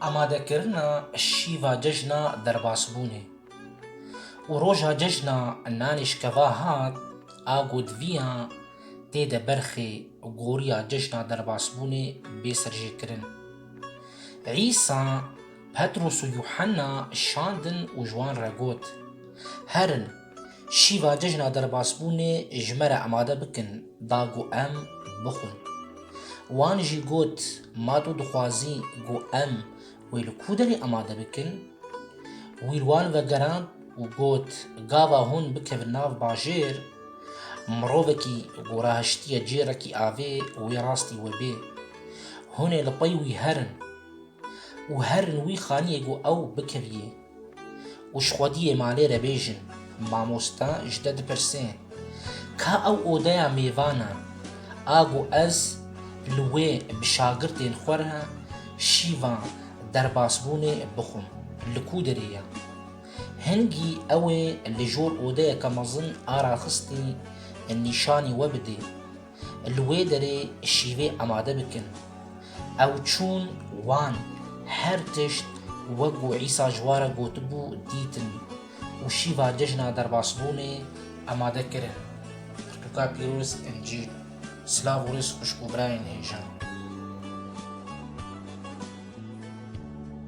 Amadekirina şîva cejna derbasbûnê û roja cejna nanê şikeva hat a gotiviyan tê de berxê goriya cejna derbasbûnê bê serjêkirin. Îsa Petros û Yuhanna şandin û ji wan re got, Herin, Şîva cejna derbasbûnê ji me re emade bikin da ku em bixwin. Wan jî got, Ma tu dixwazî ku em wê li ku derê emade bikin? Wî li wan vegerand û got, Gava hûn bikevin nav bajêr, mirovekî ku rahiştiye cêrekî avê wê rastî we bê. Hûn ê li pey wî herin û herin wî xaniyê ku ew bikeviyê. Û ji xwediyê malê re bêjin. Mamosta ji te dipirse, Ka ew odeya mêvan e? A got, Ez li wê bi şagirtên xwe re şîva derbasbûnê bixwim. Li ku derê ye? Hingî ew ê li jor odeyeke mezin a raxistî nîşanî we bidê. li wê derê şîvê amade bikin. Ew çûn wan her tişt wek ku Îsa ji wan re gotibû dîtin û şîva cejna derbasbûnê amade kirin. Pirtûka pîroz Encîl Silav û rêz xwişk û birayên hêja.